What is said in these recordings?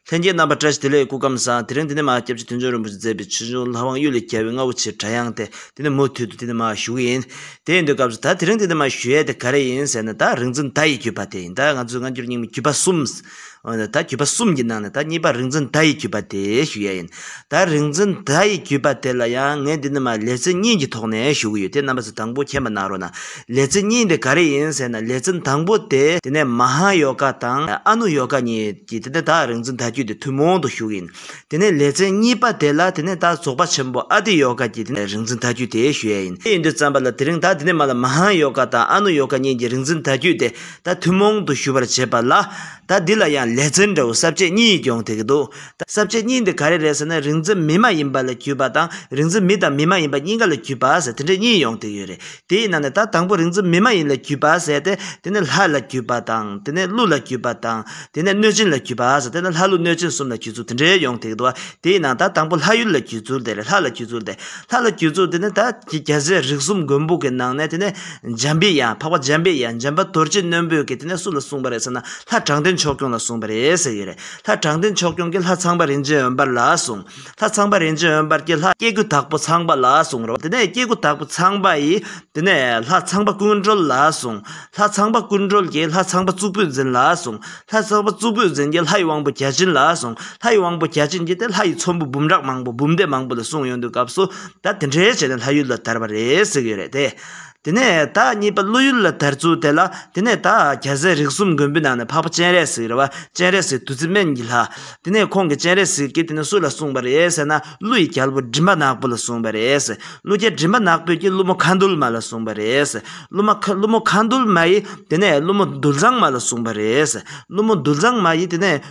ལྷན་རྒྱས་རྣམ་པར་བཀྲ་ཤིས་བདེ་ལེགས་སྐུ་ཁམས་བཟང་དེ་རིང་འདི་ནས་མ་སྐྱབས་རྗེ་མཐུན་ཚོགས་རིན་པོ་ཆེ་མཛད་པའི་ཆོས་འབྱུང་ལྷ་དབང་གཡུ་ལས་རྒྱལ་བའི་རྔ་བོ་ཆེའི་སྒྲ་དབྱངས་དེ་འདི་ནས་མུ་མཐུད་དུ་འདི་ནས་མ་ཞུ་གི་ཡིན། དེ་ཡིན་དུས་སྐབས་སུ་ད་དེ་རིང་འདི་ནས་མ་ཞུ་ཡས་དེ་ག་རེ་ཡིན་ཟེར་ན་ད་རིག་འཛིན་ད་ཡི་བརྒྱུད་པ་དེ་ཡིན་ད་ང་ཚོའི་སྔ་འགྱུར་རྙིང་མའི་བརྒྱུད་པ་གསུམ། འོན་ཏེ་ད་བརྒྱུད་པ་གསུམ་གྱི་ནང་ནས་ད་གཉིས་པ་རིག་འཛིན་ད་ཡི་བརྒྱུད་པ་དེ་ཞུ་ཡས་ཡིན། ད་རིག་འཛིན་ད་ཡི་བརྒྱུད་པ་དེ་ལ་ཡང་ངས་འདི་ནས་མ་ལེ་ཚེ་རྙིང་གི་ཐོག་ནས་ཞུ་གི་ཡོད་དེ་རྣམ་པ་ཚོས་དང་པོ་མཁྱེན་པ་གནང་རོགས་གནང། ལེ་ཚེ་རྙིང་དེ་ག་རེ་ཡིན་ཟེར་ན་ལེ་ཚན་དང་པོ་དེ། དེ་ནས་མ་ཧཱ་ཡོ་ག་དང་ཨ་ནུ་ཡོ་ག་གཉིས། གྱིས་དེ་ནས་བདག་རིག་འཛིན་དལ་བརྒྱུད་དེ་ཐུན་མོང་དུ་ཞུགས་ཡིན། དེ་ནས་ལེ་ཚན་གཉིས་པ་དེ་ལ་དེ་ནས་བདག་རྫོགས་པ་ཆེན་པོ་ཨ་ཏི་ཡོ་ག་གྱིས་དེ་རིག་འཛིན་དལ་བརྒྱུད་དེ་ཞུ་ཡས་ཡིན། དེ་ཡིན་དུས་བརྩམས་པ་ལ་དེ་རིང་བདག་དེ་ནས་མ་ལ་མ་ཧཱ་ཡོ་ག་དང་ཨ་ནུ་ཡོ་ག་གཉིས་ཀྱིས་རིག་འཛིན་དལ་བརྒྱུད་དེ་བདག་ཐུན་མོང་དུ་ཞུ་བར་བྱེད་པ་ལ། ད་འདི་ལ་ཡང་ལེ་ཚན་འདྲ་བོ་གསར་བཅད་གཉིས་སྐྱོང་ཐེག་གི་འདུག་གསར་བཅད་གཉིས་འདི་ག་རེ་རེད་ཟེར་ན་རིག་འཛིན་མི་མ་ཡིན་པ་ལ་བརྒྱུད་པ་དང་རིག་འཛིན་མི་དང་མི་མ་ཡིན་པ་གཉིས་ཀ་ལ་བརྒྱུད་པ་ཟེར་དེ་འདྲ་གཉིས་ཡོང་ཐེག་ཡོད་རེད། དེའི་ནང་ནས་ད་དང་པོ་རིག་འཛིན་མི་མ་ཡིན་ལ་བརྒྱུད་པ་ཟེར་ཏེ་དེ་ནས་ལྷ་ལ་བརྒྱུད་པ་དང་དེ་ནས་ཀླུ་ལ་བརྒྱུད་པ་དང་དེ་ནས་གནོད་སྦྱིན་ལ་བརྒྱུད་པ་ཟེར་ཏེ་ལྷ་ཀླུ་གནོད་སྦྱིན་གསུམ་ལ་བརྒྱུད་ཚུལ་དེ་འདྲའི་ཡོང་ཐེག་འདུག་ཨ་དེའི་ནང་ད་དང་པོ་ལྷ་ཡུལ་ལ་བརྒྱུད་ཚུལ་དེ་རེད་ལྷ་ལ་བརྒྱུད་ཚུལ་དེ་ལྷ་ལ་བརྒྱུད་ཚུལ་དེ་ནི་ད་རྒྱ་བཟའི་རིགས་གསུམ་མགོན་པོ་གི་ནང་ནས་དེ་ནས་འཇམ་པའི་དབྱངས་འཕགས་པ་འཇམ་པའི་དབྱངས་འཇམ་པ་དོལ་རྗེ་རྣོན་པོས་ཀྱིས་དེ་ནས་སུ་ལ་གསུངས་པ་རེད་ཟེར་ན་ལྷ་དྲང་བདེན་ཕྱོགས་སྐྱོང་ལ་གསུངས་པ་རེད་ཟེར་ཡོད་རེད་ལྷ་དྲང་བདེན་ཕྱོགས་སྐྱོང་གིས་ལྷ་ཚངས་པ་རིན་ཆེན་འོད་འབར་ལ་གསུངས། ལྷ་ཚངས་པ་རིན་ཆེན་འོད་འབར་གྱིས་ལྷ་སྐྱེ་དགུ་དག་པོ་ཚངས་པ་ལ་གསུངས་རོ། དེ་ནས་སྐྱེ་དགུ་དག་པོ་ཚངས་པ་ཡིས་དེ་ནས་ལྷ་ཚངས་པ་ཀུན་གྲོལ་ལ་གསུངས། ལྷ་ཚངས་པ་ཀུན་གྲོལ་གྱིས་ལྷ་ཚངས་པ་གཙུག་ཕུད་འཛིན་ལ་གསུངས། ལྷ་ཚངས་པ་གཙུག་ཕུད་འཛིན་གྱིས་ལྷ་ཡི་དབང་པོ་བརྒྱ་བྱིན་ལ་གསུངས། ལྷ་ཡི་དབང་པོ་བརྒྱ་བྱིན་གྱིས་དེ་ལྷ་ཡི་ཚོམ་བུ་འབུམ་ཕྲག་མང་པོ་འབུམ་སྡེ་མང་པོ་ལ་གསུངས་ཡོང་དུས་སྐབས་སུ་ད་དེ་འདྲའི་བྱས་ནས་ལྷ་ཡུལ་ལ་དར་བ་རེད་ཟེར་གྱི་ཡོད་རེད་དེ། དེ་ནས་བདག་གཉིས་པ་བློ་ཡུལ་ལ་དར་ཚུལ་དེ་ལ་དེ་ནས་བདག་རྒྱ་བཟས་རིགས་གསུམ་མགོན་པོའི་ནང་ནས་འཕགས་པ་སྤྱན་རས་གཟིགས་རེད་བ་སྤྱན་རས་གཟིགས་བདུད་རྩི་སྨན་གྱི་ལྷ། དེ་ནས་ཁོང་གིས་སྤྱན་རས་གཟིགས་ཀྱིས་དེ་ནི་སུ་ལ་གསུངས་པ་རེད་ཟེར་ན་ཀླུ་ཡི་རྒྱལ་པོ་མགྲིན་པ་ནག་པོ་ལ་གསུངས་པ་རེད། ཀླུ་རྒྱལ་མགྲིན་པ་ནག་པོས་ཀྱིས་ཀླུ་མོ་མཁའ་འདུལ་མ་ལ་གསུངས་པ་རེད། ཀླུ་མ་མཁའ་ཀླུ་མོ་མཁའ་འདུལ་མ་ཡིས་དེ་ནས་ཀླུ་མོ་འདུལ་བཟང་མ་ལ་གསུངས་པ་རེད། ཀླུ་མོ་འདུལ་བཟང་མ་ཡིས་དེ་ནས།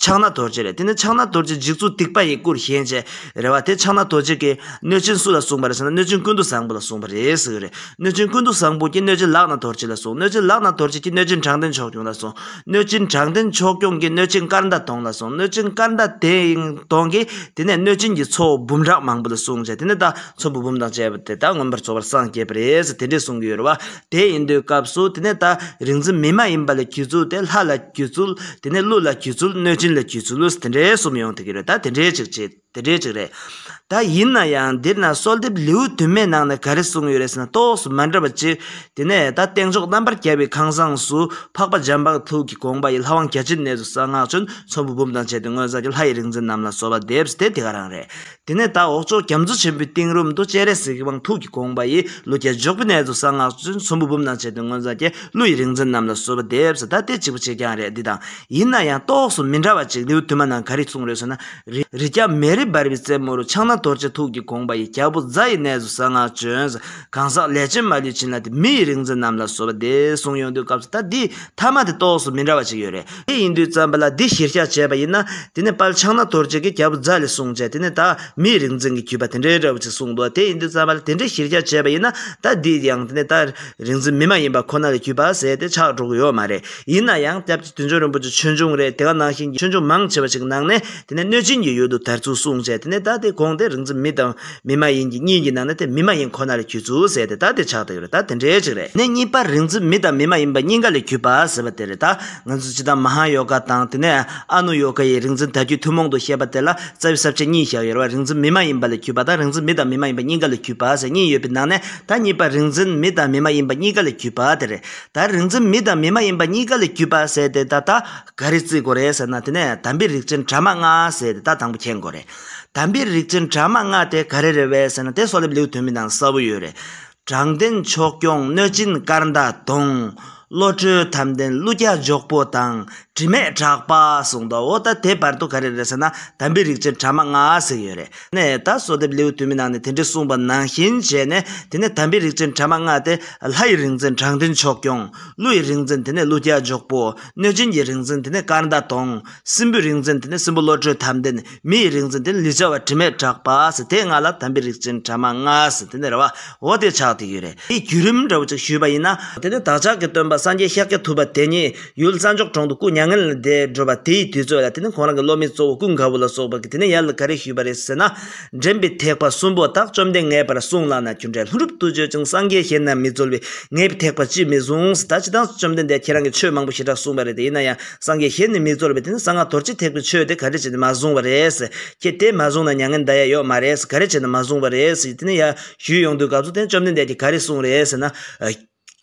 ཕྱག་ན་རྡོ་རྗེ་རེད་དེ་ནི་ཕྱག་ན་རྡོ་རྗེ་འཇིགས་ཚུལ་སྡིག་པ་ཡི་སྐུར་བཞེངས་བྱས་རེད་བ་དེ་ཕྱག་ན་རྡོ་རྗེ་གིས་གནོད་སྤྱིན་སུ་ལ་གསུངས་པ་རེད་ཟེར་ན་གནོད་སྤྱིན་ཀུན་ཏུ་བཟང་པོ་ལ་གསུངས་པ་རེད་ཟེར་གྱི་རེད་གནོད་སྤྱིན་ཀུན་ཏུ་བཟང་པོ་ཀྱིས་གནོད་སྤྱིན་ལག་ན་རྡོ་རྗེ་ལ་གསུངས་གནོད་སྤྱིན་ལག་ན་རྡོ་རྗེ་ཀྱིས་གནོད་སྤྱིན་དྲང་བདེན་ཕྱོགས་སྐྱོང་ལ་གསུངས་གནོད་སྤྱིན་དྲང་བདེན་ཕྱོགས་སྐྱོང་གིས་གནོད་སྤྱིན་སྐར་མདའ་སྟོང་ལ་གསུངས་གནོད་སྤྱིན་སྐར་མདའ་སྟོང་གིས་དེ་ནས་གནོད་སྤྱིན་གྱིས་ཚོ་བོ་འབུམ་ཕྲག་མང་པོ་ལ་གསུངས་བྱས་དེ་ནས་ད་ཚོ་བོ་འབུམ་དང་བཅས་པ་དེ་དག་མངོན་པར་རྫོགས་པར་སངས་རྒྱས་པ་རེད་ཟེར་དེ་འདྲས་གསུངས་ཀྱི་ཡོད་རེད་བ། དེ་ཡིན་དུས་སྐབས་སུ་དེ་ནས་ད་རིག་འཛིན་མི་མ་ཡིན་པ་ལ་གྱུར་ཚུལ་དེ་ལྷ་ལ་གྱུར་ཚུལ་དེ་ནས་ཀླུ་ལ་གྱུར་ཚུལ་གནོད་སྦྱིན་ལ་གྱུར་ཚུལ་ལུས་དེ་འདྲའི་གསུམ་ཡོང་ཐུག་གི་རེད་ད་དེ་འདྲའི་ཅིག་བྱེད་དེ་འདྲའི་ཅིག་རེད། ད་ཡིན་ན་ཡང་འདིར་ན་གསོལ་འདེབས་ལེའུ་དུ་མའི་ནང་ནས་ག་རེ་གསུངས་ཡོད་རེད་ཟེར་ན་གཏོགས་སུ་མ་འདྲ་བ་གཅིག་དེ་ནས་ད་སྟེང་ཕྱོགས་རྣམ་པར་རྒྱལ་བའི་ཁང་བཟངས་སུ་འཕགས་པ་འཇམ་དཔལ་ཐུགས་ཀྱི་དགོངས་པ་ཡི་ལྷ་དབང་བརྒྱ་བྱིན་གནས་སུ་གསང་སྔགས་ཆོས་ཚོམ་བུ་འབུམ་དང་བཅས་ཏེ་སྔོན་བཟའ་གྱི་ལྷ་ཡི་རིག་འཛིན་རྣམས་ལ་གསོལ་བ་འདེབས་སུ་དེ་དེ་ག་རང་རེད། དེ་ནས་ད་འོག་ཅོག་རྒྱ་མཚོ་ཆེན་པོའི་གཏིང་རུམ་དུ་སྤྱན་རས་གཟིགས་ཀྱི་དབང་ཐུགས་ཀྱི་དགོངས་པ་ཡིས་ཀླུ་རྒྱལ་འཇོག་པའི་གནས་སུ་གསང་སྔགས་བཙུན་ཚོམ་བུ་འབུམ་ནང་བྱས་ཏེ་མངོན་བཟང་རྒྱལ་ཀླུ་ཡི་རིག་འཛིན་རྣམས་ལ་གསོལ་བ་འདེབས་སོ་ད་ལྟའི་གཅིག་པུ་ཆེ་རྐྱང་རེད་འདི་དང་ཡིན་ན་ཡང་གཏོགས་སུ་མི་འདྲ་བ་ཅིག་ནེའུ་ཐུ་མ་ནང་ག་རེ་གསུངས་རེད་ཟེར་ན། རི་སྐྱ་མེ་རི་འབར་བའི་རྩེ་མོ་རུ་ཕྱག་ན་རྡོ་རྗེ་ཐུགས་ཀྱི་དགོངས་པ་ཡིས་རྒྱ་བོ་བཛྲ་ཡི་གནས་སུ་གསང་སྔགས་བྱོན་ཟེར་གང་ཟག་ལས་ཅན་མ་ལུས་བྱིན་རླབས་དེ་མི་ཡི་རིག་འཛིན་རྣམས་ལ་གསོལ་བ་འདེབས་གསུངས་ཡོང་དུས་སྐབས་སུ་ད་འདིས་མཐའ་མ་དེ་གཏོགས་སུ་མི་འདྲ་བ་ཅིག་ཡོད་རེད། དེ་ཡིན་དུས་བརྩམས་པ་ལ་འདི་གཞིར་བཞག་བྱས་པ་ཡིན་ན་དེ་ནི་དཔལ་ཕྱག་ན་དོར་བྱེད་ཀྱི་རྒྱལ་པོ་ཛཱ་ལས་གསུངས་བྱས་དེ་ནི་དག་མེད་རིག་འཛིན་གྱི་བརྒྱུད་པ་དེ་འདྲའི་འདྲ་བོ་ཅིག་གསུངས་འདུག་དེ་ཡིན་དུས་བརྩམས་པ་ལ་དེ་འདྲའི་གཞིར་བཞག་བྱས་པ་ཡིན་ན་ད་འདི་ཡང་དེ་ནི་དག་རིག་འཛིན་མི་མ་ཡིན་པ་ཁོ་ན་ལས་བརྒྱུད་པ་ཟེར་ཏེ་ཆགས་འགྲོ་གི་ཡོད་མ་རེད་ཡིན་ན་ཡང་སྐྱབས་རྗེ་དུས་འབྱུང་རིན་པོ་ཆེ་ཆོས་འབྱུང་རེད་དེ་ག་ནང་བཞིན་གྱི་ཆོས་འབྱུང་མང་ཆེ་བ་ཞིག་གི་ནང་ནས་དེ་ནི་གནོད་སྦྱིན་གྱི་ཡུལ་དུ་དར་ཚུལ་གསུངས་བྱས་དེ་ནི་ད་དེ་གོང་དེ་རིག་འཛིན་མི་དང། མི་མ་ཡིན་གྱི་གཉིས་ཀྱི་ནང་ན་དེ་མི་མ་ཡིན་ཁོ་ན་ལས་གྱུར་ཚུལ་ཟེར་ཏེ་ད་དེ་ཆགས་བསྡད་ཡོད་རེད་ད་དེ་འདྲའི་ཅིག་རེད་ནས་གཉིས་པ་རིག་འཛིན་མི་དང་མི་མ་ཡིན་པ་གཉིས་ཀ་ལས་གྱུར་པ་ཟེར་བ་དེ་རེད་ད་ང་ཚོས་སྤྱི་བཏང་མ་ཧཱ་ཡོ་ག་དང་དེ་ནས་ཨ་ནུ་ཡོ་ག་ཡི་རིག་འཛིན་དལ་བརྒྱུད་ཐུན་མོང་དུ་བཤད་པ་དེ་ལ་རྩ་བའི་གསར་བཅད་གཉིས་བཞག་ཡོད་རེད་བ་རིག་འཛིན་མི་མ་ཡིན་པ་ལས་གྱུར་པ་དང་རིག་འཛིན་མི་དང་མི་མ་ཡིན་པ་གཉིས་ཀ་ལས་གྱུར་པ་ཟེར་གཉིས་ཡོད་པའི་ནང་ནས་ད་གཉིས་པ་རིག་འཛིན་མི་དང་མི་མ་ཡིན་པ་གཉིས་ཀ་ལས་གྱུར་པ་དེ་རེད་ད་རིག་འཛིན་མི་དང་མི་མ་ཡིན་པ་གཉིས་ཀ་ལས་གྱུར་པ་ཟེར་ཏེ་ད་ད་ག་རེ་བརྩི་དགོས་རེད་ཟེར་ན་དེ་ནས་དམ་པའི་རིག་ཅན་དྲ་མ་ལྔ་ཟེར་ཏེ་ད་དང་པོ་མཁྱེན་དགོས་རེད། དམ་པའི་རིག་འཛིན་དྲ་མ་ལྔ་དེ་ག་རེ་རེད་བས་ཟེར་ན་དེ་སོགས་ལེབ་ལེའུ་དོན་མི་འདང་གསལ་བོ་ཡོད་རེད། དྲང་བདེན་མཆོག་སྐྱོང་གནོད་སྦྱིན་སྐར་མདའ་དུང། བློ་གྲོས་དམ་ལྡན་ཀླུ་རྒྱལ་འཇོག་པོ་དང་དྲི་མེད་གྲགས་པ་གསུངས་འདུག་འོ་ད་དེ་བར་དུ་ག་རེ་རེད་ཟེར་ན་དམ་པའི་རིག་འཛིན་དྲ་མ་ལྔ་ཟེར་ཡོད་རེད་ནས་ད་སོགས་ལེབ་ལེའུ་དོན་མི་འདང་ནས་དེ་འདྲའི་གསུངས་པ་ནང་བཞིན་བྱས་ནས་དེ་ནས་དམ་པའི་རིག་འཛིན་དྲ་མ་ལྔ་དེ་ལྷ་ཡི་རིག་འཛིན་དྲང་བདེན་མཆོག་སྐྱོང་ཀླུ་ཡི་རིག་འཛིན་དེ་ནས་ཀླུ་རྒྱལ་འཇོག་པོ་གནོད་སྦྱིན་གྱི་རིག་འཛིན་དེ་ནས་སྐར་མདའ་དུང། སྲིན་པོའི་རིག་འཛིན་དེ་ནི་སྲིན་པོ་བློ་གྲོས་དམ་ལྡན། མི་ཡི་རིག་འཛིན་དེ་ནི་ལུས་ཅན་བ་དྲི་མས་གྲགས་པ། དེ་ལྔ་ལ་དམ་པའི་རིགས་ཅན་བྲ་མ་ལྔ། དེ་ནི་ར་བ། འོ་དེ་ཆགས་ཏེ་ཡོད་རེད། དེའི་བརྒྱུད་རིམ་འདྲ་བོ་ཅིག་ཞུས་པ་ཡིན་ན། དེ་ནི་བདག་ཅག་གི་སྟོན་པ་སངས་རྒྱས་ཤཱཀྱ་ཐུབ་པ་དེ་ཉིད་ཡུལ་ས་མཆོག་གྲོང་དུ་སྐུ་མྱ་ངན་ལས་འདས་འགྲོ་བ་དེའི་དུས་ཚོད་ལ་དེ་ནི་ཁོང་རང་གི་སློབ་མའི་གཙོ་བོ་ཀུན་དགའ་བོ་ལ་སོགས་པ་གིས་དེ་ནི་ཡར་ལ་ག་རེ་ཞུས་པ་རེད་ཟེར་ན། འདྲེན་པའི་ཐེག་པ་གསུམ་པོ་དག་བཅོམ་ལྡན་ངའི་བར་གསུངས་ལགས་ན་རྒྱུ་འབྲས་ལྷུན་གྲུབ་ཏུ་བརྗོད་ཅིང་སངས་རྒྱས་གཞན་རྣམས་མི་འཛོལ་བས་ངའི་ཐེག་པ་ཅིས་མི་གཟུང། ད་ཅི་སྟངས་སུ་བཅོམ་ལྡན་འདས་ཁྱེད་རང་གིས་ཆོས་མང་པོ་ཞེ་དྲག་གསུངས་པ་རེད་དེ་ཡིན་ན་ཡང། སངས་རྒྱས་ཞེས་ནི་མི་རྫོགས་པའི་དེ་ནི་གསང་སྔགས་དོར་བྱེད་ཐེག་པའི་ཆོས་དེ་ག་རེ་བྱས་ནས་མ་བཟུང་བ་རེད། ཁྱེད་དེ་མ་བཟུང་ན་མྱ་ངན་འདའ་ཡ་ཡོད་མ་རེད། ག་རེ་བྱས་ན་མ་བཟུང་བ་རེད། དེ་ནི་ཡ། ཞུས་ཡོང་དུས་སྐབས་སུ་དེ་ནི་བཅོམ་ལྡན་འདས་ཀྱིས་ག་རེ་གསུངས་རེད་ཟེར་ན།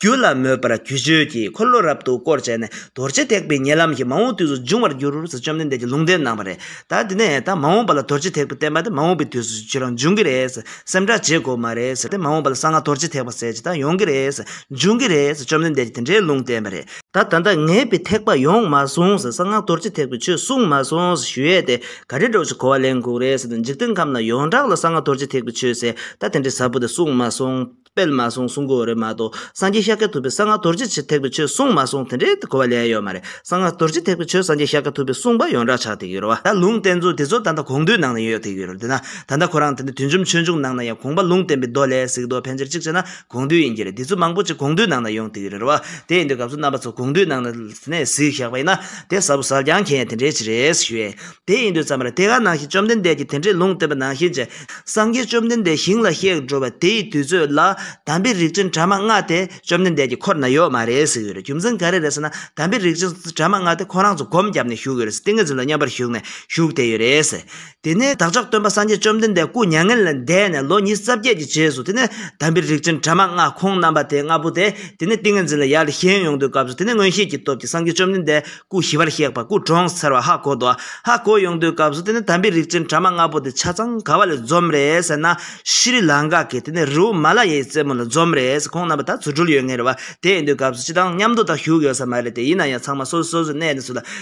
རྒྱུ་ལ་མོས་པར་རྒྱུ་བརྗོད་ཀྱིས་འཁོར་ལོ་རབ་ཏུ་བསྐོར་བྱས་ནས་དོར་བྱེད་ཐེག་པའི་ཉེ་ལམ་གྱི་མ་འོངས་དུས་སུ་འབྱུང་བར་འགྱུར་ཟེར་བཅོམ་ལྡན་འདས་ཀྱིས་ལུང་བསྟན་གནང་བ་རེད། ད་དེ་ནས་ད་མ་འོངས་པ་ལ་དོར་བྱེད་ཐེག་པ་བསྟན་པ་དེ་མ་འོངས་པའི་དུས་སུ་ཁྱོད་རང་འབྱུང་གི་རེད། སེམས་ཐག་བཅད་དགོས་མ་རེད། དེ་མ་འོངས་པ་ལ་གསང་སྔགས་དོར་བྱེད་ཐེག་པ་ཟེར་བྱེད་ད་ཡོང་གི་རེད། འབྱུང་གི་རེད། བཅོམ་ལྡན་འདས་ཀྱིས་དེ་འདྲའི་ལུང་བསྟན་པ་རེད། ད་ད་ད་ངས་པའི་ཐེག་པ་ཡོངས་མ་གསུངས་ཟེར་གསང་སྔགས་རྡོ་རྗེ་ཐེག་པའི་ཆོས་གསུངས་མ་སོང་ཟེར་ཞུ་ཡས་དེ་ག་རེ་འགྲོགས་ཤིག་གོ་བ་ལེན་ཁུག་རེ་ཟེར་འཇིག་རྟེན་ཁམས་ན་ཡོངས་གྲགས་ལ་གསང་སྔགས་རྡོ་རྗེ་ཐེག་པའི་ཆོས་ཟེར་ད་དེ་འདྲའི་ཟབ་པོ་དེ་གསུངས་མ་སོང་སྤེལ་མ་སོང་གསུང་གོ་རེ་མ་གཏོགས་སངས་རྒྱས་ཤཱཀྱ་ཐུབ་པའི་གསང་སྔགས་རྡོ་རྗེ་ཆེ་ཐེག་པའི་ཆོས་གསུངས་མ་སོང་དེ་འདྲའི་གོ་བ་ལེན་ཡོད་མ་རེད་གསང་སྔགས་རྡོ་རྗེ་ཐེག་པའི་ཆོས་སངས་རྒྱས་ཤཱཀྱ་ཐུབ་པའི་གསུངས་པ་ཡོངས་གྲགས་ཆགས་ཐེག་ཡོད་རེད་བ། ད་ལུང་བསྟན་ཚུལ་དེ་ཚོ་ད་ལྟ་གོང་དུས་ནང་ན་ཡོད་ཐེག་ཡོད་རེད་འདི་ན་ད་ད་ཁོ་རང་དེ་འདྲའི་དུས་འཇོམས་ཆོས་འབྱུང་ནང་ན་ཡང་གོང་པ་ལུང་བསྟན་པའི་མདོ་ལས་གཟིགས་མདོ་ཕན་ཆེར་གཅིག་བྱས་ན་དགོངས་འདུས་ཡིན་གྱི་རེད་དེ་ཚོ་མང་པོ་ཅིག་དགོངས་འདུས་ནང་ན་ཡོང་དེ་གི་རེད་རེད་བ། དེ་ཡིན་དུས་སྐབས་སུ་རྣམ་པ་ཚོ་དགོངས་འདུས་ནང་ན་གཟིགས་བཞག་པ་ཡིན་ན་དེ་ཟབ་བོ་ཟབ་རྐྱང་མཁན་ཡང་དེ་འདྲའི་ཅིག་རེད་ཞུ་ཡས། དེ་ཡིན་དུས་ཙམ་རེ་དེ་ག་ནང་བཞིན་བཅོམ་ལྡན་འདས་ཀྱིས་དེ་འདྲའི་ལུང་བསྟན་པ་ནང་བཞིན་བྱས། སངས་རྒྱས་བཅོམ་ལྡན་འདས་ཞིང་ལ་གཤེགས་འགྲོ་བ་དེ་ཡི་དུས་ཚོད་ལ་དམ་པའི་རིགས་ཅན་གྲ་མ་ལྔ་དེ་བཅོམ་ལྡན་འདས་ཀྱི་འཁོར་ན་ཡོད་མ་རེད་ཟེར་གི་རེད་རྒྱུ་མཚན་ག་རེ་རེད་ཟེར་ན་དམ་པའི་རིགས་ཅན་གྲ་མ་ལྔ་དེ་ཁོ་རང་ཚོ་སྒོམ་བརྒྱབ་ནས་བཞུགས་ཡོད་རེད་ཏིང་ངེ་འཛིན་ལ་མཉམ་པར་བཞུགས་ནས་བཞུགས་བསྡད་ཡོད་རེད། དེ་ནས་བདག་ཅག་སྟོན་པ་སངས་རྒྱས་བཅོམ་ལྡན་འདས་སྐུ་མྱ་ངན་ལས་འདས་ནས་ལོ་ཉིས་རྩ་བརྒྱད་ཀྱི་རྗེས་སུ་དེ་ནས་དམ་པའི་རིགས་ཅན་དྲ་མ་ལྔ་ཁོང་རྣམ་པ་དེ་ལྔ་པོ་དེ་དེ་ནས་ཏིང་ངེ་འཛིན་ལ་ཡར་ལ་ཞེན་ཡོང་དུས་སྐབས་སུ་དེ་ནས་མངོན་ཤེས་ཀྱི་སྟོབས་ཀྱིས་སངས་རྒྱས་བཅོམ་ལྡན་འདས་སྐུ་ཞི་བར་གཤེགས་པ་སྐུ་གྲོངས་ཚར་བ་ཧ་གོ་དོ། ཧ་གོ་ཡོང་དུས་སྐབས་སུ་དེ་ནས་དམ་པའི་རིགས་ཅན་དྲ་མ་ལྔ་པོ་དེ་ཆ་ཚང་ག་བ་ལས་འཛོམས་རེས་ན་ཤི་རི་ལང་ཀ་གི་དེ་ནས་རི་བོ་མ་ལ་ཡའི་རྩེ་མོ་ལ་འཛོམས་རེས་ཁོང་རྣམ་པ་ད་ཚུར་འགྲུལ་ཡོད་ངེས་རེད་བ་དེ་ཡིན་དུས་སྐབས་སུ་ཅི་དང་མཉམ་དུ་ད་བཞུགས་ཡོད་ས་མ་རེད་དེ་ཡིན་ན་ཡང་ཚང་མ་སོ་སོ་སོ་སོའི་གནས་ནས་སུ་ལ་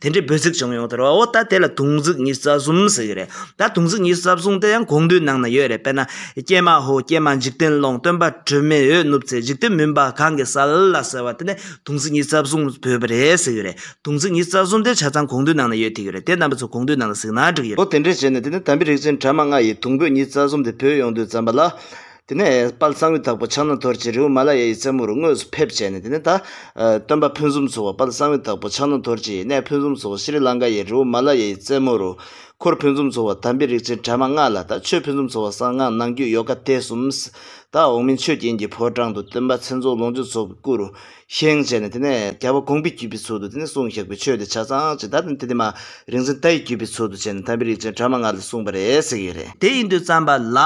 དེ་འདྲའི་འབོད་ཚིག་བྱུང་ཡོང་དོ་རོ་ད་དེ་ལ་དུང་ཟིག་གཉིས་རྩ་གསུམ་ཟེར་གྱི་རེད་ད་དུང་ཟིག་གཉིས་རྩ་གསུམ་དེ་ཡང་གོང་བསྡུས་ནང་ན་ཡོད་རེད་དཔེར་ན་ཀྱེ་མ་ཧོ་ཀྱེ་མ་འཇིག་རྟེན་ཀློང་སྟོན་པ་དྲི་མེད་འོད་ནུབ་ཚེ་འཇིག་རྟེན་མུན་པ་གང་གི་ས་ལ་ཟེར་བ་དེ་ནས་དུང་ཟིག་གཉིས་རྩ་གསུམ་བོད་པ་རེད་ཟེར་གྱི་རེད་དུང་ཟིག་གཉིས་རྩ་གསུམ་དེ་ཆ་ཚང་གོང་བསྡུས་ནང་ན་ཡོད་ཐིག་གི་རེད་དེ་རྣམ་པ་ཚོ་གོང་བསྡུས་ནང་ལ་གཟིགས་ན་འགྲིག་གི་རེད། ལོ་དེ་འདྲའི་རྗེས་ནས་དེ་ནས་དམ་པའི་རིག་ཚན་བྲ་མ་ལྔ་ཡིས་དུང་བོད་གཉིས་རྩ་གསུམ་དེ་བོད་ཡོངས་བསྡུས་བརྩམས་པ་ལ། དེ་ནས་དཔལ་གསང་བའི་བདག་པོ་ཕྱག་ན་དོར་གྱིས་རི་བོ་མ་ལ་ཡ་ཡི་རྩེ་མོར་དངོས་སུ་ཕེབས་བྱས་ནས་དེ་ནས་ད། སྟོན་པ་ཕུན་སུམ་ཚོགས་པ་དཔལ་གསང་བའི་བདག་པོ་ཕྱག་ན་དོར་གྱིས་གནས་ཕུན་སུམ་ཚོགས་པ་ཤི་རི་ལང་ཀ་ཡའི་རི་བོ་མ་ལ་ཡ་ཡི་རྩེ་མོ་རུ། འཁོར་ཕུན་སུམ་ཚོགས་པ་དམ་པའི་རིགས་ཅན་དྲ་མ་ལྔ་ལ་ད་ཆོས་ཕུན་སུམ་ཚོགས་པ་གསང་སྔགས་ནང་རྒྱུད་ཡོ་ག་དེ་གསུམ། ད་འོག་མིན་ཆོས་རྒྱན་གྱི་ཕོ་བྲང་དུ་སྟོན་པ་མཚན་རྫོགས་ལོངས་སྤྱོད་ཚོགས་ཀྱི་སྐུ་རུ། བཞེངས་བྱས་ནས་དེ་ནས་རྒྱལ་བ་དགོངས་པའི་བརྒྱུད་པའི་ཚུལ་དུ་དེ་ནས་གསུང་བཞག་པའི་ཆོས་དེ་ཆ་ཚང་ཅིག་དར་ནས་དེ་དེ་མ་རིག་འཛིན་རྟ་ཡི་བརྒྱུད་པའི་ཚུལ་དུ་བྱས་ནས་དམ་པའི་རིགས་ཅན་དྲ་མ་ལྔ་ལ་གསུངས་པ་རེད་ཟེར་གྱི་ཡོད་རེད། དེ་ཡིན་དུས་བརྩམས་པ་ལ་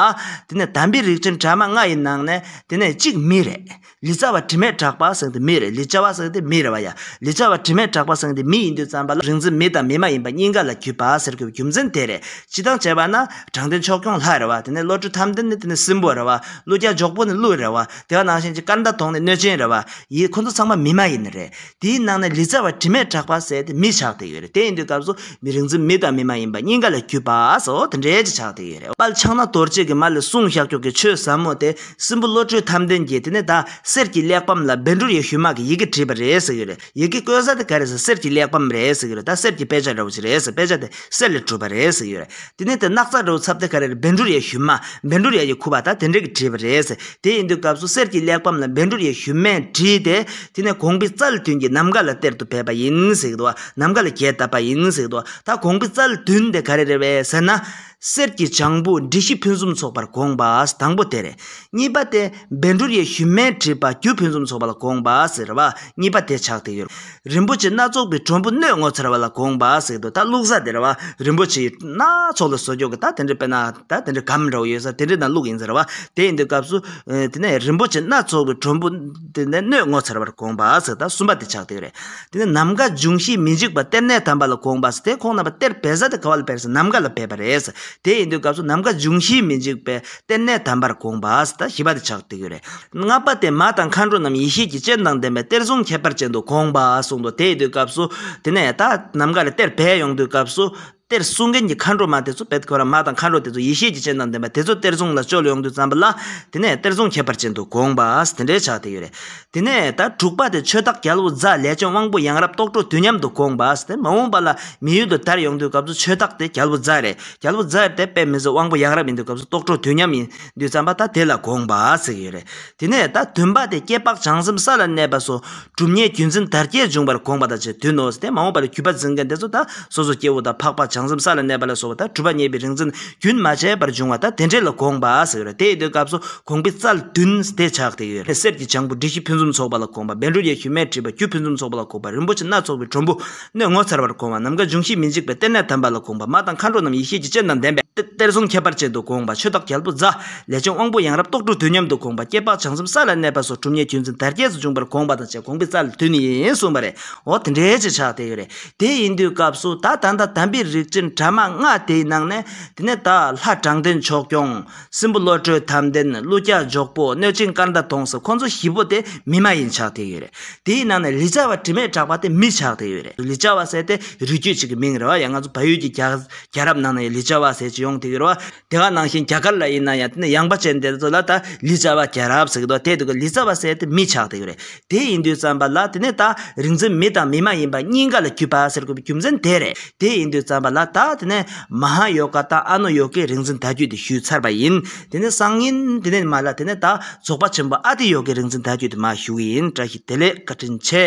དེ་ནས་དམ་པའི་རིགས་ཅན་དྲ་མ་ལྔ་ཡི་ནང་ནས་དེ་ནས་གཅིག་མི་རེད། ལི་ཙཱ་བ་དྲི་མེད་གྲགས་པ་ཟེར་དེ་མི་རེད་ལི་ཅཱ་བ་ཟེར་དེ་མི་རེད་བ་ཡ། ལི་ཙཱ་བ་དྲི་མེད་གྲགས་པ་ཟེར་དེ་མི་ཡིན་དུས་བརྩམས་པ་ལ་རིག་འཛིན་མི་དང་མི་མ་ཡིན་པ་གཉིས་ཀ་ལ་བརྒྱུད་པ་ཟེར་དགོས་པའི་རྒྱུ་མཚན་དེ་རེད་སྤྱི་དང་བྱས་པ་ན་དྲང་བདེན་ཕྱོགས་སྐྱོང་ལྷ་རེད་བ་དེ་ནས་བློ་གྲོས་དམ་ལྡན་ནི་དེ་ནས་སྲིན་པོ་རེད་བ་གླུ་རྒྱ་འཇོག་པོ་ནི་ཀླུ་རེད་བ། དེ་བ་ནང་བཞིན་གྱི་སྐར་མདའ་དོང་ནས་གནོད་སྦྱིན་རེད་བ། ཡིད་ཁོ་ཚོ་ཚང་མ་མི་མ་ཡིན་ནི་རེད། དེའི་ནང་ནས་ལི་ཙྪ་བ་དྲི་མེད་གྲགས་པ་ཟེར་ཏེ་མི་ཆགས་དེ་ཡོད་རེད་དེ་ཡིན་དུས་སྐབས་སུ་མི་རིགས་འཛིན་མི་དང་མི་མ་ཡིན་པ་སྙིང་ག་ལ་རྒྱུས་པ་སོ་དེ་འདྲས་ཀྱི་ཆགས་དེ་ཡོད་རེད་བ། དཔལ་ཕྱག་ན་རྡོ་རྗེ་གི་མ་ལས་གསུང་ཤཱཀ་ཀྱོག་གི་ཆོས་ཟབ་མོ་དེ་སྲིན་པོ་བློ་གྲོས་དམ་ལྡན་གྱིས་དེ་ནས་དག་གསེར་གྱི་གླེགས་བམ་ལ་སྦལ་འབྲུར་ཡོད་ཤུལ་མ་གི་ཡི་གེ་བྲིས་པ་རེད་ཟེར་ཡོད་རེད། ཡི་གེ་བཀོད་ས་དེ་ག་རེད་ཟེར་གསེར་གྱི་གླེགས་བམ་རེད་ཟེར་གྱི་རེད་ད་གསེར་གྱི་དཔེ་ཆ་འདྲ་བོ་ཞིག་རེད་ཟེར་དཔེ་ཆ་དེ་གསེར་ལས་གྲུབ་པ་རེད་ཟེར་གྱི་རེད་དེ་ནས་དེ་སྣག་ཚ་འདྲ་བོ་ཚབ་དེ་ག་རེ་རེད་བན་འབྲུར་ཡ་ཞུན་མ་བན་འབྲུར་ཡ་ཡི་ཁུ་བ་ད་དེ་འདྲ་གི་བྲིས་པ་རེད་ཟེར་དེ་ཡིན་དུས་སྐབས་སུ་གསེར་གྱི་གླེགས་བམ་ལ་བན་འབྲུར་ཡ་ཞུན་མས་བྲིས་ཏེ་དེ་ནས་གོང་པི་ཙལ་ཏུན་གྱིས་ནམ་མཁའ་ལ་གཏེར་དུ་བས་པ་ཡིན་ཟེར་གྱི་འདུག་ནམ་མཁའ་ལ་རྒྱས་བཏབ་པ་ཡིན་ཟེར་གྱི་འདུག་ད་གོང་པི་ཙལ་ཏུན་དེ་ག་རེ་རེད་བས་ཟེར་ན། གསེར་གྱི་བྱང་བུ་འབྲི་གཞི་ཕུན་སུམ་ཚོགས་པར་དགོངས་པ་དང་པོ་དེ་རེད། གཉིས་པ་སྟེ། སྦས་འབྲུ་ཡི་ཞུན་མས་བྲིས་པ་རྒྱུད་ཕུན་སུམ་ཚོགས་པ་ལ་དགོངས་པ་ཟེར་བ་གཉིས་པ་དེ་ཆགས་ཏེ་ཡོད། རིན་པོ་ཆེ་སྣ་ཚོགས་པའི་གྲོང་བུ་སྣོད་ངོ་མཚར་བ་ལ་དགོངས་པ་ཟེར་དུས་ད་བླུགས་ས་དེར་བ་རིན་པོ་ཆེ་ཡི་སྣ་ཚོགས་ལ་བཟོ་རྒྱུ་གི་ད་དེ་འདྲའི་དཔེར་ན་ད་དེ་འདྲའི་གམ་འདྲ་བོ་ཡོད་ས་དེ་འདྲའི་ནང་བླུགས་ཡིན་ཟེར་བ་དེ་ཡིན་དུས་སྐབས་སུ་དེ་ནས་རིན་པོ་ཆེ་སྣ་ཚོགས་པའི་གྲོང་བུ། དེ་ནས་སྣོད་ངོ་མཚར་བར་དགོངས་པ་ཟེར་དང་གསུམ་པ་དེ་ཕྱག་དེ་རེད། དེ་ནས་ནམ་མཁའ་འབྱུང་བཞིའི་མི་འཇིགས་པ་གཏེར་གནས་དམ་པ་ལ་དགོངས་པ་ཟེར་དེ་ཁོང་རྣམ་པ་གཏེར་སྦས་ས་དེ་ག་བ་ལ་བེར་ཟེར་ནམ་མཁའ་ལ་སྦས་པ་རེད། དེ་ཡིན་དུས་སྐབས་སུ་ནམ་མཁའ་འབྱུང་བཞིའི་མི་འཇིགས་པའི་གཏེར་གནས་དམ་པར་དགོངས་པ་ཟེར་དང་བཞི་པ་དེ་ཕྱག་དེ་རེད། ལྔ་པ་དེ་མ་དང་མཁའ་འགྲོ་རྣམས་ཡེ་ཤེས་ཀྱི་སྤྱན་དང་ལྡན་པའི་གཏེར་གཟུངས་ཁྱད་པར་ཅན་དུ་དགོངས་པ་གསུངས་འདུག་དེ་ཡིན་དུས་སྐབས་སུ། དེ་ནས་ད་ནམ་མཁའ་ལ་གཏེར་སྦས་ཡོང་དུས་སྐབས་སུ། གཏེར་བསྲུང་མཁན་གྱི་མཁའ་འགྲོ་མ་དེ་ཚོ་བེད་ཁོ་ར་མ་དང་མཁའ་འགྲོ་དེ་ཚོ་ཡེ་ཤེས་ཀྱི་སྤྱན་དང་ལྡན་པ་དེ་ཚོ་གཏེར་བཟུང་ལ་སྤྱོད་ལ་ཡོང་དུས་བརྩམས་པ་ལ་དེ་ནས་གཏེར་བཟུང་ཁྱད་པར་ཅན་དུ་དགོངས་པ་དེ་འདྲའི་ཕྱག་དེ་ཡོད་རེད། དེ་ནས་ད་དྲུག་པ་དེ་ཆོས་བདག་རྒྱལ་བོ་རྫ་ལས་བྱོན་དབང་པོ་ཡང་རབ་རྟོགས་འཕྲོ་དུས་མཉམ་དུ་དགོངས་པ་དེ་མ་འོངས་པ་ལ་མི་ཡུལ་དུ་དར་ཡོང་དུས་སྐབས་སུ་ཆོས་བདག་དེ་རྒྱལ་བོ་རྫ་རེད་རྒྱལ་བོ་རྫ་དེ་དཔེ་མི་བཟོ་དབང་པོ་ཡང་རབ་ཡིན་དུས་སྐབས་སུ་རྟོགས་འཕྲོ་དུས་མཉམ་ཡིན་དུས་བརྩམས་པ་ད་དེ་ལ་དགོངས་པ་ཟེར་གྱི་ཡོད་རེད། དེ་ནས་ད་བདུན་པ་དེ་སྐྱེས་འཕགས་བྱང་སེམས་ས་ལ་གནས་པ་སོ་སྒྲུབ་གཉེར་བརྒྱུད་འཛིན་དར་རྒྱས་འབྱུང་བར་དགོངས་པ་དང་བཅས་དུས་ནོར་བཟི་སྟེ་མ་འོངས་པར་གུས་པར་འཛིན་མཁན་དེ་ཚོ་དང་སོ་སོ་སྐྱེ་བོ་དང་འཕགས་པ་བྱང་སེམས་ས་ལ་གནས་པ་ལ་སོགས་པ་དང་གྲུབ་པ་བརྙེས་པའི་རིག་འཛིན་རྒྱུན་མ་ཆད་པར་འབྱུང་བ་དང་དེ་འབྲེལ་ལ་དགོངས་པ་ཟེར་བ་རེད་དེ་ཡི་དུས་སྐབས་སུ་གོང་བི་ཙལ་བདུན་སྡེ་ཆགས་དེ་ཡོད་རེད་གསེར་གྱི་བྱང་བུ་འབྲི་གཞི་ཕུན་སུམ་ཚོགས་པ་ལ་དགོངས་པ་སྦན་རུ་ཡེ་ཤུས་མས་བྲིས་པ་རྒྱུད་ཕུན་སུམ་ཚོགས་པ་ལ་དགོངས་པ་རིན་པོ་ཆེ་སྣ་ཚོགས་པའི་དྲོན་བུ་སྣོད་ངོ་མཚར་བར་གོང་བ་ནམ་མཁའ་འབྱུང་བཞིའི་མི་འཇིགས་པའི་གཏེར་ནས་དམ་པ་ལ་གོང་པ་མ་དང་མཁའ་འགྲོ་རྣམས་ཡེ་ཤེས་ཀྱི་སྤྱན་དང་ལྡན་པས་གཏེར་གཟུངས་ཁྱད་པར་ཅན་དུ་གོང་བ་ཆོས་བདག་རྒྱལ་པོ་རྫ། ལས་བྱང་དབང་པོ་ཡང་རབ་རྟོགས་སྤྲོ་བསྡུ་སྙམ་དུ་གོང་བ་སྐྱེ་འཕགས་བྱང་སེམས་ས་ལ་གནས་པ་སོགས་གྲུབ་བརྙེས་བརྒྱུད་འཛིན་དར་རྒྱས་སུ་འབྱུང་བར་གོང་བ་དང་བཅས་གོང་བུའི་རྩ་ལ་དུས་ནི་ཡིན་གསུངས་པ་རེད་འོ་དེ་འདྲའི་ཆེ་ཆག་དེ་ཡོད་རེད་དེ་ཡིན་དུས་སྐབས་སུ་ད་ད་ལྟ་དམ་པའི་རིགས་ཅན་དྲ་མ་ལྔ་དེའི་ནང་ནས་དེ་ནས་ད་ལྷ་དྲང་བདེན་ཕྱོགས་སྐྱོང་སྲིན་པོ་བློ་གྲོས་དམ་ལྡན་ཀླུ་སྐྱག་འཇོག་པོ་གནོད་སྦྱིན་སྐར་མདའ་གདོང་སོགས་ཁོང་ཚོ་བཞི་པོ་དེ་མི་མ་ཡིན་ཆགས་ཐིག་ཡོད་རེད་དེའི་ནང་ནས་ལི་ཅཱ་བ་དྲི་མེད་གྲགས་པ་དེ་མི་ཆགས་ཐིག་ཡོད་རེད་ལི་ཅཱ་བ་ཟེར་དེ་རུས་རྒྱུད་ཅིག་གི་མིང་རེད་བ་ཡང་ང་ཚོ་བལ་ཡུལ་གྱི་རྒྱལ་རབས་ནང་ནས་ལི་ཅཱ་བ་ཟེར་གྱི་ཡོང་ཐིག་ཡོད་རེད་བ་དེ་ག་ནང་བཞིན་རྒྱ་གར་ལ་ཡིན་ན་ཡང་དེ་ནས་ཡངས་པ་ཅན་དེ་ཚོ་ལ་ད་ལི་ཅཱ་བ་རྒྱལ་རབས་ཟེར་གི་འདུག་བ་དེ་དུ་གི་ལི་ཅཱ་བ་ཟེར་དེ་མི་ཆགས་ཐིག་ཡོད་རེད་དེ་ཡིན་དུས་བརྩམས་པ་ལ་དེ་ནས་ད་རིང་འཛིན་མི་དང་མི་མ་ཡིན་པ་གཉིས་ཀ་ལ་གུས་པ་ཟེར་དགོས་པའི་རྒྱུ་མཚན་དེ་རེད་དེ་ཡིན་དུས་བརྩམས་པ་ལ་ད་དེ་ནས་མ་ཧཱ་ཡོ་ག་དང་ཨ་ནུ་ཡོ་གའི་རིག་འཛིན་དར་རྒྱུད་དེ་ཞུས་ཚར་བ་ཡིན་དེ་ནས་སང་ཉིན་དེ་ནས་མ་ལ་དེ་ནས་ད་རྫོགས་པ་ཆེན་པོ་ཨ་ཏི་ཡོ་གའི་རིག་འཛིན་དར་རྒྱུད་དེ་མ་ཞུ་གི་ཡིན་བཀྲ་ཤིས་བདེ་ལེགས་བཀའ་དྲིན་ཆེ།